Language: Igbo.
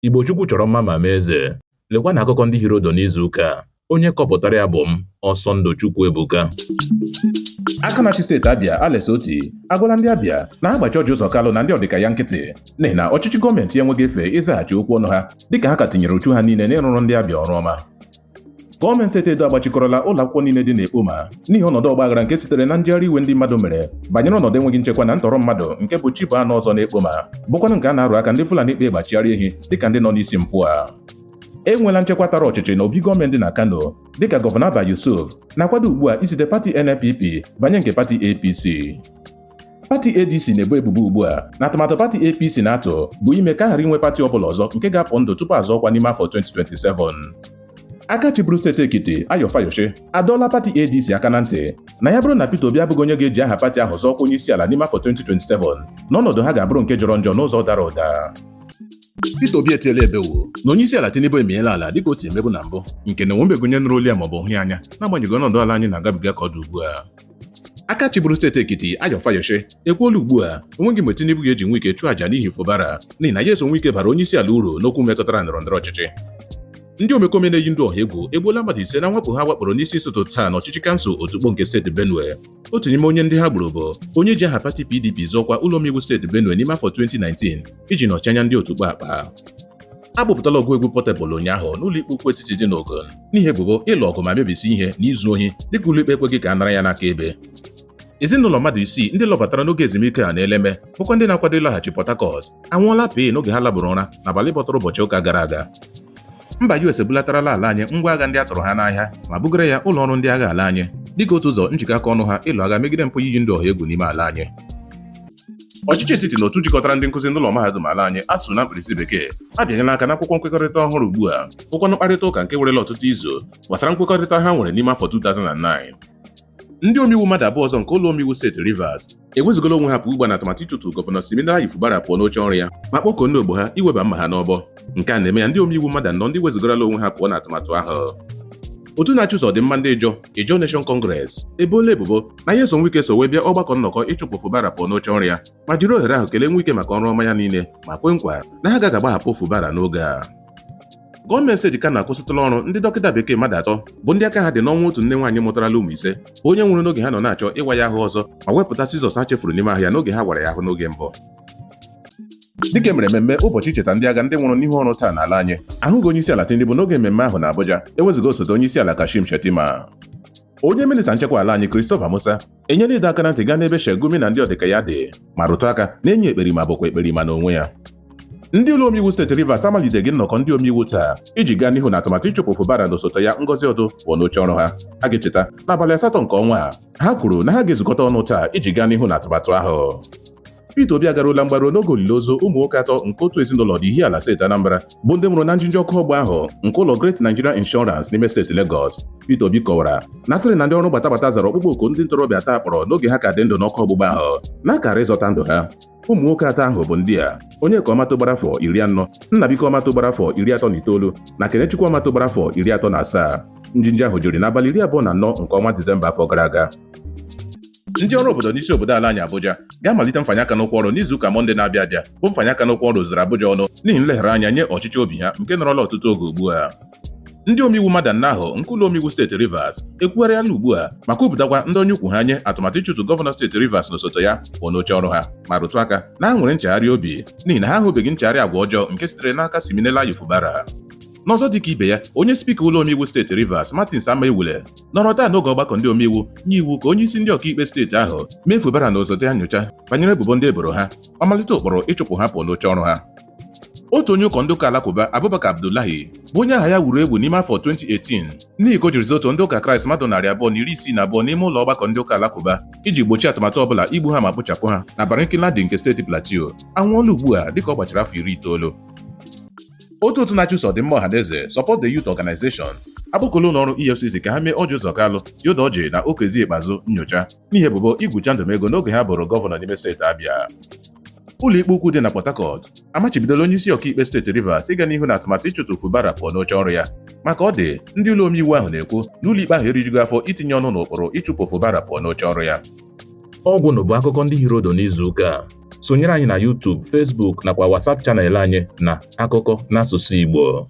Igbo Chukwu chọrọ mma ma mee eze. Lekwa na akụkọ ndị hiri ụdụ n'izu ụka a. Onye kọpụtara ya bụ m, Ọsọndụ Chukwu Ebuka. aka na-achị steeti Abia Alex Otti agwala ndị Abia na ha gbachi Orji Uzor Kalu na ndị ọdịka ya nkịtị n'ihi na ọchịchị gọọmenti ya enweghị efe ịzaghachi okwu ọnụ ha dịka ha ka tinyere uchu ha niile n'ịrụrụ ndị Abia ọrụ ọma Gọọmenti steeti Edo agbachikọrọla ụlọ akwụkwọ niile dị n'Ekpoma n'ihi ọnọdụ ọgbaghara nke sitere na njegharị iwe ndị mmadụ mere banyere ọnọdụ enweghị nchekwa na ntọrọ mmadụ nke bụ chi bọọ anụ ọzọ n'Ekpoma bụkwanụ nke a na-arụ aka ndị Fulani kpa egbe achịgharị ehi dịka ndị nọ n'isi mpụ a enweela nchekwa tara ọchịchị na obi gọọmenti dị na Kano dịka gọvanọ Abba Yusuf na-akwado ugbu a isite pati NNPP banye nke pati APC pati ADC na-ebo ebubo ugbu a na atụmatụ pati APC na-atụ bụ ime ka a ghara inwe pati ọbụla ọzọ nke ga-apụ ndụ tupu azọọ ọkwa n'ime afọ 2027 aka chịburu steeti Ekiti Ayo Fayose adọọla pati ADC aka na ntị na ya bụrụ na Peter Obi abụghị onye ga-eji aha pati ahụ zọọ ọkwa onye isi ala n'ime afọ 2027 na ọnọdụ ha ga-abụrụ nke jọrọ njọ n'ụzọ dara ụda Peter Obi etiela ebewo na onye isi ala Tinubu emiela ala dịka o si emebu na mbụ nke na onwebeghị onye nụrụ olu ya maọbụ hụ ya anya n'agbanyeghị ọnọdụ ala anyị na-agabiga ka ọ dị ugbu a aka chịburu steeti Ekiti Ayo Fayose ekwuola ugbu a onweghị mgbe Tinubu ga-eji Nwike chụọ aja n'ihi Fubara n'ihi na Nyesom Nwike bara onye isi ala uru n'okwu metụtara ndọrọ ndọrọ ọchịchị ndị omekome na-eyi ndụ ọha egwu egbuola mmadụ ise na mwakpo ha wakporo n'isi ụtụtụ taa n'ọchịchị kansụl Otukpo nke steeti Benue otu n'ime onye ndị ha gburu bụ onye ji aha pati PDP zọọ ọkwa ụlọ omeiwu steeti Benue n'ime afọ 2019 iji nọchi anya ndị Otukpo Akpa a kpụpụtala ọgụ egwu Portable ụnyaahụ n'ụlọikpe ukwu etiti dị n'Ogun n'ihi ebubo ịlụ ọgụ ma mebisi ihe na izu ohi dịka ụlọikpe ekweghị ka a nara ya n'aka ebe ezinụlọ mmadụ isii ndị lọbatara n'oge ezumike a n'Eleme bụkwa ndị na-akwado ịlaghachi Port Harcourt anwụọla pịị n'oge ha labụrụ ụra n'abalị bọtara ụbọchị ụka gara aga mba US ebulatarala ala anyị ngwa agha ndị a tụrụ ha n'ahịa ma bugara ya ụlọ ọrụ ndị agha ala anyị dịka otu ụzọ njikọ aka ọnụ ha ịlụ agha megide mpụ iyi ndị ọha egwu n'ime ala anyị ọchịchị etiti na otu jikọtara ndị nkụzi n'ụlọ mahadum ala anyị ASUU na mkpirisi bekee abịanyela aka n'akwụkwọ nkwekọrịta ọhụrụ ugbu a bụkwanụ mkparịta ụka nke werela ọtụtụ izu gbasara nkwekọrịta ha nwere n'ime afọ 2009 ndị omeiwu mmadụ abụọ ọzọ nke ụlọ omeiwu steeti Rivers ewezugala onwe ha pụ ugbu a na atụmatụ ịchụtu gọvanọ Siminalayi Fubara pụọ n'oche ọrụ ya ma kpọkuo ndị ogbo ha iweba mma ha n'ọbọ nke a na-eme ya ndị omeiwu mmadụ anọ ndị wezugarala onwe ha pụọ na atụmatụ ahụ otu na-achụso ọdịmma ndị Ijaw Ijaw Nation Congress eboola ebubo na Nyesom Nwike so wee bịa ọgbakọ nnọkọ ịchụpụ Fubara pụọ n'oche ọrụ ya ma jiri ohere ahụ kelee Nwike maka ọrụ ọma ya niile ma kwe nkwa na ha gaghị agbahapụ Fubara n'oge a gọọmenti steeti Kano akwụsịtụla ọrụ ndị dọkịta bekee mmadụ atọ bụ ndị aka ha dị n'ọnwụ otu nne nwaanyị mụtarala ụmụ ise bụ onye nwụrụ n'oge ha nọ na-achọ ịwa ya ahụ ọzọ ma wepụta sizọs ha chefuru n'ime ahụ ya n'oge ha wara ya ahụ n'oge mbụ dịka emere mmemme ụbọchị icheta ndị agha ndị nwụrụ n'ihu ọrụ taa n'ala anyị ahụghị onye isi ala Tinubu n'oge mmemme ahụ na Abuja ewezuga osote onye isi ala Kashim Shettima onye minista nchekwa ala anyị Christopher Musa enyela ịdọ aka na ntị gaa n'ebe Sheikh Gumi na ndị ọdịka ya dị ma rụtụ aka na enyi ekperima bụkwa ekperima n'onwe ya ndị ụlọ omeiwu steeti Rivers amaliteghị nnọkọ ndị omeiwu taa iji gaa n'ihu na atụmatụ ịchụpụ Fubara na osote ya Ngozi Odu pụọ n'oche ọrụ ha a ga-echeta n'abalị asatọ nke ọnwa a ha kwuru na ha ga-ezukọta ọnụ taa iji gaa n'ihu na atụmatụ ahụ Peter Obi agaruola mgbaru n'oge olili ozu ụmụ nwoke atọ nke otu ezinụlọ dị Ihiala steeti Anambra bụ ndị nwụrụ na njinji ọkụ ọgbụgba ahụ nke ụlọ Great Nigeria Insurance n'ime steeti Lagos. Peter Obi kọwara na asịrị na ndị ọrụ gbatagbata zara ọkpụkpọ oku ndị ntorobịa atọ a kpọrọ n'oge ha ka dị ndụ n'ọkụ ọgbụgba ahụ na akara ịzọta ndụ ha. Ụmụ nwoke atọ ahụ bụ ndị a Onyeka Ọmatụ gbara afọ iri anọ Nnabuike Ọmatụ gbara afọ iri atọ na itoolu na Kenechukwu Ọmatụ gbara afọ iri atọ na asaa. Njinji ahụ jiri n'abalị iri abụọ na anọ nke ọnwa Disemba afọ gara aga. ndị ọrụ obodo n'isi obodo ala anyị Abuja ga-amalite mfanye aka n'ụkwụ ọrụ n'izu ụka Mọnde na-abịa abịa bụ mfanye aka n'ụkwụ ọrụ zuru Abuja ọnụ n'ihi nleghara anya nye ọchịchọ obi ha nke nọrọla ọtụtụ oge ugbu a ndị omeiwu mmadụ anọ ahụ nke ụlọ omeiwu steeti Rivers ekwugharịala ugbu a ma kwupụtakwa ndọnye ụkwụ ha nye atụmatụ ịchụtụ gọvanọ steeti Rivers na osote ya pụọ n'oche ọrụ ha ma rụtụ aka na ha nwere nchegharị obi n'ihi na ha ahụbeghị nchegharị agwa ọjọọ nke sitere n'aka Siminalayi Fubara n'ọzọ dịka ibe ya onye spika ụlọ omeiwu steeti Rivers Martins Amaewule nọrọ taa n'oge ọgbakọ ndị omeiwu nye iwu ka onye isi ndị ọkaikpe steeti ahụ mee Fubara na osote ya nyocha banyere ebubo ndị eboro ha ọ malite ụkpụrụ ịchụpụ ha pụọ n'oche ọrụ ha otu onye ụkọ ndị ụka alakụba Abubakar Abdullahi bụ onye aha ya wuru ewu n'ime afọ 2018 n'ihi ka o jiri zoo otu ndị ụka Kraịst mmadụ narị abụọ na iri isii na abụọ n'ime ụlọ ọgbakọ ndị ụka alakụba iji gbochie atụmatụ ọbụla igbu ha ma kpochapụ ha na Barkin-Ladi nke steeti Plateau anwụọla ugbu a dịka ọ gbachara afọ iri itoolu otu otu na-achụso ọdịmma ọhaneze Support the Youth Organization akpọkuola ụlọ ọrụ EFCC ka ha mee Ọjị Ụzọ Kalụ, Theodore Ọjị na Okezie Ikpeazụ nyocha n'ihi ebubo igwu chandụm ego n'oge ha bụrụ gọvanọ n'ime steeti Abịa. Ụlọikpe ukwu dị na Port Harcourt amachibidola onye isi ọkaikpe steeti Rivers ịga n'ihu na atụmatụ ịchụtụ Fubara pụọ n'oche ọrụ ya ma ka ọ dị ndị ụlọ omeiwu ahụ na-ekwu na ụlọikpe ahụ erijughị afọ itinye ọnụ n'ụkpụrụ ịchụpụ Fubara pụọ n'oche ọrụ ya. Ọgwụnụ bụ akụkọ ndị hiri ụdụ n'izu ụka a. sonyere anyị na YouTube, Facebook nakwa WhatsApp channel anyị na akụkọ n'asụsụ Igbo